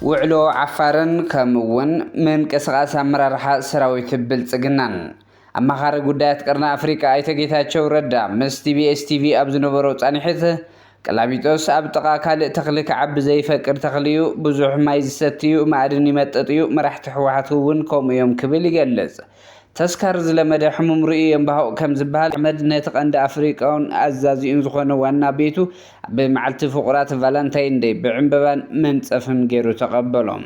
ውዕሎ ዓፋርን ከምኡ'ውን ምንቅስቓስ ኣመራርሓ ሰራዊት ብልጽግናን ኣማኻሪ ጉዳያት ቀርኒ ኣፍሪቃ ኣይተ ጌታቸው ረዳ ምስ ቲቢኤስ ቲቪ ኣብ ዝነበሮ ፃኒሕት ቀላሚጦስ ኣብ ጥቓ ካልእ ተኽሊ ክዓቢ ዘይፈቅድ ተኽሊ ዩ፣ ብዙሕ ማይ ዝሰቲ ዩ፣ ማእድን ይመጥጥ ዩ፣ መራሕቲ ህወሓት ውን ከምኡ ዮም ክብል ይገልፅ። ተስካር ዝለመደ ሕሙም ርእዩ የንባሁቕ ከምዝበሃል፣ ኣሕመድ ነቲ ቀንዲ ኣፍሪቃውን ኣዛዚኡን ዝኾነ ዋና ቤቱ ኣብ መዓልቲ ፍቑራት ቫላንታይን ደይ ብዕምበባን መንፀፍን ገይሩ ተቐበሎም።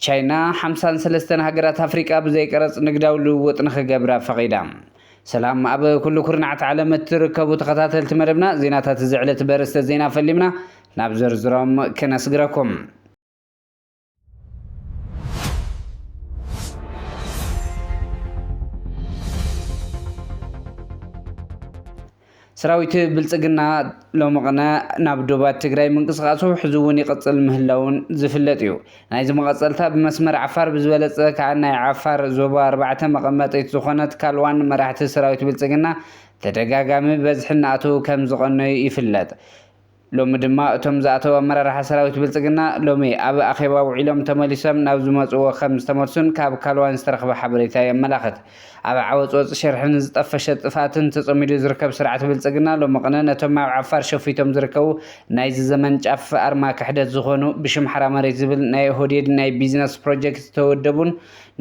ቻይና ሓምሳን ሰለስተን ሃገራት ኣፍሪቃ ብዘይቀረጽ ንግዳዊ ልውውጥ ንኽገብራ ፈቒዳ። ሰላም ኣብ ኩሉ ኩርናዓት ዓለም እትርከቡ ተኸታተልቲ መደብና ዜናታት እዚ ዕለት በርእስተ ዜና ፈሊምና ናብ ዝርዝሮም ክነስግረኩም። ሰራዊት ብልፅግና ሎሚ ቕነ ናብ ዶባት ትግራይ ምንቅስቓሱ ሕዚ እውን ይቕፅል ምህላዉን ዝፍለጥ እዩ። ናይዚ መቐፀልታ ብመስመር ዓፋር ብዝበለፀ ከዓ ናይ ዓፋር ዞባ ኣርባዕተ መቐመጢት ዝኾነት ካልዋን መራሕቲ ሰራዊት ብልፅግና ተደጋጋሚ ብበዝሒ እናኣተዉ ከምዝቐነዩ ይፍለጥ። ሎሚ ድማ እቶም ዝኣተው ኣመራርሓ ሰራዊት ብልፅግና ሎሚ ኣብ ኣኼባ ውዒሎም ተመሊሶም ናብ ዝመፅዎ ከም ዝተመልሱን ካብ ካልዋን ዝተረኽበ ሓበሬታ የመላኽት። ኣብ ዓወፅወፅ ሽርሕን ዝጠፈሸ ጥፍኣትን ተፀሚዱ ዝርከብ ስርዓት ብልፅግና ሎሚ ቕነ ነቶም ኣብ ዓፋር ሸፊቶም ዝርከቡ ናይዚ ዘመን ጫፍ ኣርማ ክሕደት ዝኾኑ ብሽም ሓራ መሬት ዝብል ናይ ኦህዴድ ናይ ቢዝነስ ፕሮጀክት ዝተወደቡን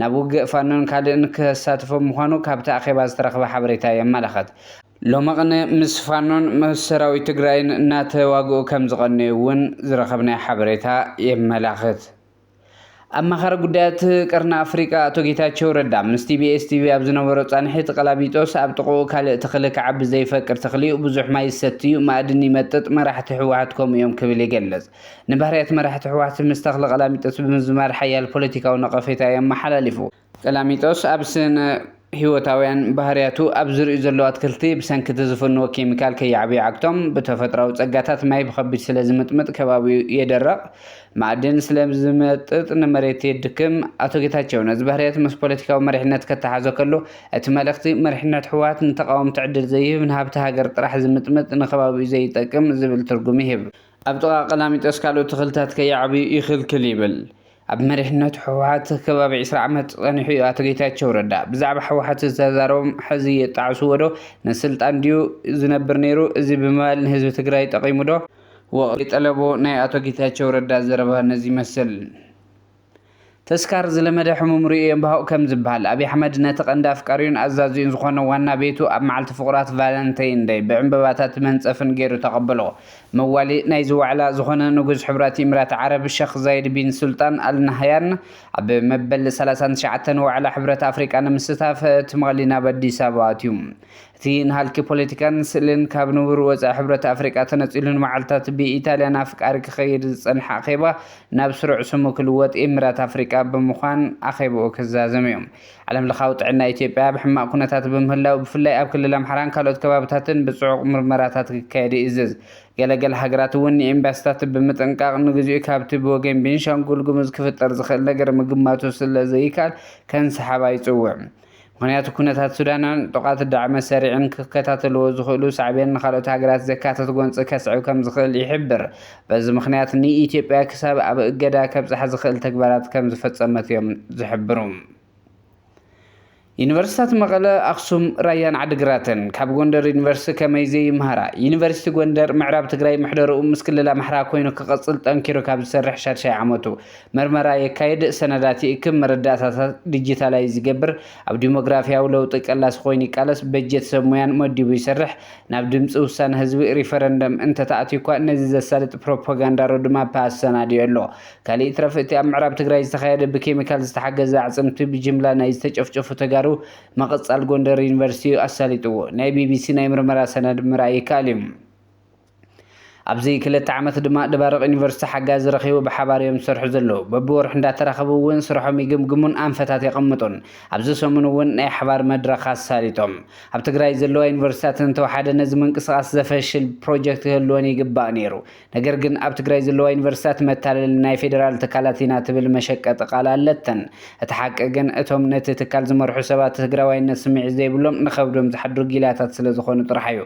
ናብ ውግእ ፋኖን ካልእን ከሳትፎም ምዃኑ ካብቲ ኣኼባ ዝተረኽበ ሓበሬታ የመላኽት። ሎመቕነ ምስ ፋኖን ምስ ሰራዊት ትግራይን እናተዋግኡ ከምዝቐነዩ እውን ዝረኸብናዮ ሓበሬታ የመላኽት። ኣማኻሪ ጉዳያት ቀርኒ ኣፍሪቃ ኣቶ ጌታቸው ረዳ ምስ ቲቢኤስ ቲቪ ኣብ ዝነበሮ ፃንሒት ቐላሚጦስ ኣብ ጥቕኡ ካልእ ተኽሊ ክዓቢ ዘይፈቅድ ተኽሊ'ዩ፣ ብዙሕ ማይ ይሰቲ'ዩ፣ ማእድን ይመጥጥ፣ መራሕቲ ህወሓት ከምኡ'ዮም ክብል ይገልፅ። ንባህርያት መራሕቲ ህወሓት ምስ ተኽሊ ቐላሚጦስ ብምዝማድ ሓያል ፖለቲካዊ ነቐፌታ የመሓላሊፉ። ቀላሚጦስ ኣብ ስነ ህይወታውያን ባህርያቱ ኣብ ዝርእዩ ዘለዉ ኣትክልቲ ብሰንኪ እቲ ዝፍንዎ ኬሚካል ከይዓብዩ ይዓግቶም፣ ብተፈጥሮኣዊ ጸጋታት ማይ ብኸቢድ ስለ ዝምጥምጥ ከባቢኡ የደርቕ፣ ማኣድን ስለ ዝመጥጥ ንመሬት የድክም፣ ኣቶ ጌታቸው ነዚ ባህርያት ምስ ፖለቲካዊ መሪሕነት ከተሓዞ ከሎ እቲ መልእኽቲ መሪሕነት ህወሓት ንተቓወምቲ ዕድል ዘይህብ ንሃብቲ ሃገር ጥራሕ ዝምጥምጥ ንከባቢኡ ዘይጠቅም ዝብል ትርጉም ይህብ። ኣብ ጥቓ ቀላሚጦስ ካልኦት ተኽልታት ከይዓብዩ ይኽልክል ይብል። ኣብ መሪሕነት ህወሓት ከባቢ ዕስራ ዓመት ጸኒሑ እዩ ኣቶ ጌታቸው ረዳ። ብዛዕባ ህወሓት ዝተዛረቦም ሕዚ የጣዕስዎ ዶ? ንስልጣን ድዩ ዝነብር ነይሩ? እዚ ብምባል ንህዝቢ ትግራይ ጠቒሙ ዶ? ወቕቲ ጠለቡ ናይ ኣቶ ጌታቸው ረዳ ዘረባ ነዚ ይመስል። ተስካር ዝለመደ ሕሙም ርእዩ የንባሁቕ ከም ዝበሃል፣ ኣብይ ኣሕመድ ነቲ ቀንዲ ኣፍቃሪኡን ኣዛዚኡን ዝኾነ ዋና ቤቱ ኣብ መዓልቲ ፍቑራት ቫለንተይን ደይ ብዕምበባታትን መንጸፍን ገይሩ ተቐበሎ። መዋሊ ናይዚ ዋዕላ ዝኾነ ንጉስ ሕቡራት ኢምራት ዓረብ ሸኽ ዛይድ ቢን ሱልጣን ኣል ናህያን ኣብ መበል ሰላሳን ትሽዓተን ዋዕላ ሕብረት ኣፍሪቃ ንምስታፍ ትማሊ ናብ ኣዲስ ኣበባ ኣትዩ። እቲ ንሃልኪ ፖለቲካን ስእልን ካብ ንቡር ወጻኢ ሕብረት ኣፍሪቃ ተነጺሉ ንመዓልታት ብኢታልያን ኣፍቃሪ ክኸይድ ዝጸንሐ ኣኼባ ናብ ስሩዕ ስሙ ክልወጥ ኢምራት ኣፍሪቃ ብምዃን ኣኼባኡ ክዛዘም'ዩ። ዓለም ለኻዊ ጥዕና ኢትዮጵያ ኣብ ሕማቕ ኩነታት ብምህላው ብፍላይ ኣብ ክልል ኣምሓራን ካልኦት ከባብታትን ብፅዑቕ ምርመራታት ክካየድ ይእዝዝ። ገለ ገለ ሃገራት እውን ንኤምባሲታት ብምጥንቃቕ ንግዚኡ ካብቲ ብወገን ቤንሻንጉል ጉሙዝ ክፍጠር ዝኽእል ነገር ምግማቱ ስለዘይካል ከንሰሓባ ይፅውዕ። ምኽንያቱ ኩነታት ሱዳንን ጡቓት ዳዕመ ሰሪዕን ክከታተልዎ ዝኽእሉ ሳዕቤን ንካልኦት ሃገራት ዘካትት ጎንፂ ከስዕብ ከምዝኽእል ይሕብር በዚ ምኽንያት ንኢትዮጵያ ክሳብ ኣብ እገዳ ከብጽሓ ዝኽእል ተግባራት ከም ዝፈጸመት እዮም ዝሕብሩ። ዩኒቨርሲታት መቐለ፣ ኣኽሱም፣ ራያን ዓዲግራትን ካብ ጎንደር ዩኒቨርሲቲ ከመይ ዘይምሃራ? ዩኒቨርሲቲ ጎንደር ምዕራብ ትግራይ ምሕደርኡ ምስ ክልል ኣምሓራ ኮይኑ ክቕጽል ጠንኪሩ ካብ ዝሰርሕ ሻድሻይ ዓመቱ። መርመራ የካይድ፣ ሰነዳት ይእክብ፣ መረዳእታታት ዲጂታላይዝ ይገብር፣ ኣብ ዲሞግራፍያዊ ለውጢ ቀላሲ ኮይኑ ይቃለስ፣ በጀት ሰብ ሙያን መዲቡ ይሰርሕ፣ ናብ ድምፂ ውሳነ ህዝቢ፣ ሪፈረንደም፣ እንተተኣትዩኳ ነዚ ዘሳልጥ ፕሮፓጋንዳ ሮድማፕ ኣሰናዲኡ ኣሎ። ካሊእ ይትረፍ እቲ ኣብ ምዕራብ ትግራይ ዝተኻየደ ብኬሚካል ዝተሓገዘ ኣዕፅምቲ ብጅምላ ናይ ዝተጨፍጨፉ ተጋሩ ምቕፃል ጎንደር ዩኒቨርሲቲ እዩ ኣሳሊጥዎ። ናይ ቢቢሲ ናይ ምርመራ ሰነድ ምርኣይ ይከኣል እዩ። ኣብዚ ክልተ ዓመት ድማ ደባርቅ ዩኒቨርስቲ ሓጋዚ ረኺቡ ብሓባር እዮም ዝሰርሑ ዘለዉ። በብወርሑ እንዳተራኸቡ እውን ስርሖም ይግምግሙን ኣንፈታት የቐምጡን። ኣብዚ ሰሙን እውን ናይ ሓባር መድረኽ ኣሳሊጦም። ኣብ ትግራይ ዘለዋ ዩኒቨርስቲታት እንተወሓደ ነዚ ምንቅስቓስ ዘፈሽል ፕሮጀክት ክህልወን ይግባእ ነይሩ። ነገር ግን ኣብ ትግራይ ዘለዋ ዩኒቨርስቲታት መታለሊ ናይ ፌደራል ትካላት ኢና ትብል መሸቀጢ ቃል ኣለተን። እቲ ሓቂ ግን እቶም ነቲ ትካል ዝመርሑ ሰባት ትግራዋይነት ስምዒት ዘይብሎም ንኸብዶም ዝሓድሩ ጊላታት ስለዝኾኑ ጥራሕ እዩ።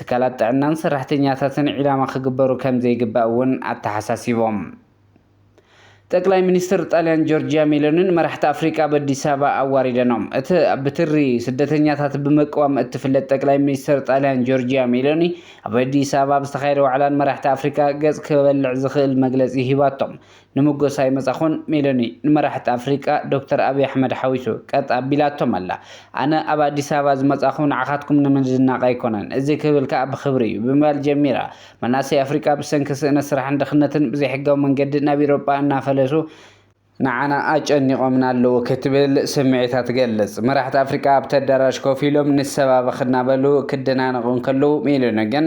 ትካላት ጥዕናን ሰራሕተኛታትን ዒላማ ክግበሩ ከምዘይግባእ እውን ኣተሓሳሲቦም። ጠቅላይ ሚኒስትር ጣልያን ጆርጂያ ሜሎኒን መራሕቲ ኣፍሪቃ ኣብ ኣዲስ ኣበባ ኣዋሪደኖም። እቲ ብትሪ ስደተኛታት ብምቅዋም እትፍለጥ ጠቅላይ ሚኒስትር ጣልያን ጆርጂያ ሜሎኒ ኣብ ኣዲስ ኣበባ ኣብ ዝተኻየደ ዋዕላን መራሕቲ ኣፍሪቃ ገጽ ክበልዕ ዝኽእል መግለጺ ሂባቶም። ንሞገስ ኣይመጻኹን ሜሎኒ ንመራሕቲ ኣፍሪቃ ዶክተር ኣብይ ኣሕመድ ሓዊሱ ቀጥ ኣቢላቶም ኣላ። ኣነ ኣብ ኣዲስ ኣበባ ዝመጻኹ ንዓኻትኩም ንምድናቕ ኣይኮነን፣ እዚ ክብል ከኣ ብኽብሪ እዩ ብምባል ጀሚራ። መናእሰይ ኣፍሪቃ ብሰንኪ ስእነት ስራሕን ድኽነትን ብዘይሕጋዊ መንገዲ ናብ ኢሮጳ እናፈለሱ፣ ንዓና ኣጨኒቖምና ኣለዉ ክትብል ስምዒታ ትገልጽ። መራሕቲ ኣፍሪቃ ኣብቲ ኣዳራሽ ኮፍ ኢሎም ንሰባበኽ እናበሉ ክደናነቑ እንከለዉ ሜሎኒ ግን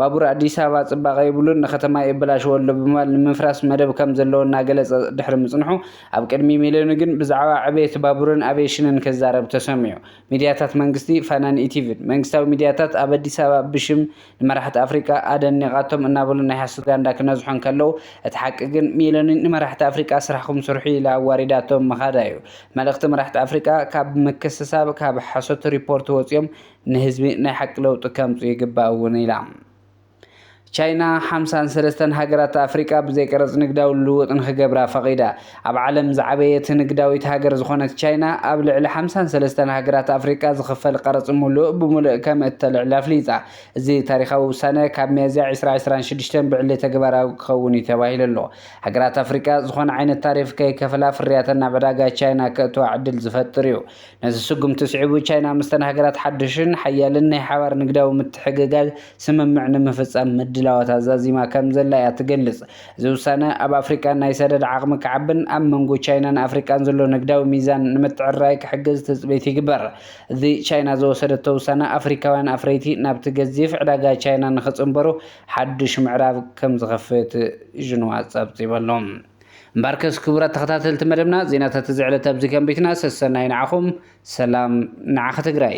ባቡር ኣዲስ ኣበባ ፅባቐ የብሉን፣ ንከተማ የበላሽዎ ኣሎ ብምባል ንምፍራስ መደብ ከም ዘለዎ እናገለፀ ድሕሪ ምፅንሑ ኣብ ቅድሚ ሚልዮን ግን ብዛዕባ ዕብየት ባቡርን ኣቪዬሽንን ክዛረብ ተሰሚዑ። ሚድያታት መንግስቲ፣ ፋናን ኢቲቪን መንግስታዊ ሚድያታት ኣብ ኣዲስ ኣበባ ብሽም ንመራሕቲ ኣፍሪቃ ኣደኒቓቶም እናበሉ ናይ ሓሶት ጋንዳ ክነዝሑ እንከለዉ እቲ ሓቂ ግን ሚሎኒ ንመራሕቲ ኣፍሪቃ ስራሕኹም ስርሑ ኢላ ኣዋሪዳቶም ምኻዳ'ዩ። መልእኽቲ መራሕቲ ኣፍሪቃ ካብ ምክስሳብ ካብ ሓሶት ሪፖርት ወፂኦም ንህዝቢ ናይ ሓቂ ለውጢ ከምፅኡ ይግባእ እውን ኢላ። ቻይና ሓምሳን ሰለስተን ሃገራት ኣፍሪቃ ብዘይ ቀረጽ ንግዳዊ ልውውጥ ንክገብራ ፈቒዳ። ኣብ ዓለም ዝዓበየት ንግዳዊት ሃገር ዝኾነት ቻይና ኣብ ልዕሊ ሓምሳን ሰለስተን ሃገራት ኣፍሪቃ ዝኽፈል ቀረጽ ሙሉእ ብሙሉእ ከምእተልዕል ኣፍሊጣ። እዚ ታሪኻዊ ውሳነ ካብ ሚያዝያ ዕስራ ዕስራን ሽዱሽተን ብዕሊ ተግባራዊ ክኸውን እዩ ተባሂሉ ኣሎ። ሃገራት ኣፍሪቃ ዝኾነ ዓይነት ታሪፍ ከይከፈላ ፍርያተን ናብ ዕዳጋ ቻይና ከእትዋ ዕድል ዝፈጥር እዩ። ነዚ ስጉምቲ ስዒቡ ቻይና ምስተን ሃገራት ሓዱሽን ሓያልን ናይ ሓባር ንግዳዊ ምትሕግጋዝ ስምምዕ ንምፍጻም ምድላዋታ ዛዚማ ከምዘላ እያ ትገልጽ። እዚ ውሳነ ኣብ ኣፍሪቃ ናይ ሰደድ ዓቕሚ ክዓብን ኣብ መንጎ ቻይናን ኣፍሪቃን ዘሎ ንግዳዊ ሚዛን ንምትዕርራይ ክሕግዝ ትጽቢት ይግበር። እዚ ቻይና ዝወሰደቶ ውሳነ ኣፍሪካውያን ኣፍረይቲ ናብቲ ገዚፍ ዕዳጋ ቻይና ንኽጽንበሩ ሓዱሽ ምዕራፍ ከምዝኸፍት ዥንዋ ጸብጺቡ ኣሎ። እምበኣርከስ ክቡራት ተኸታተልቲ መደብና ዜናታት እዚ ዕለት ኣብዚ ከንቢትና ሰሰናዩ ንዓኹም ሰላም ንዓኺ ትግራይ።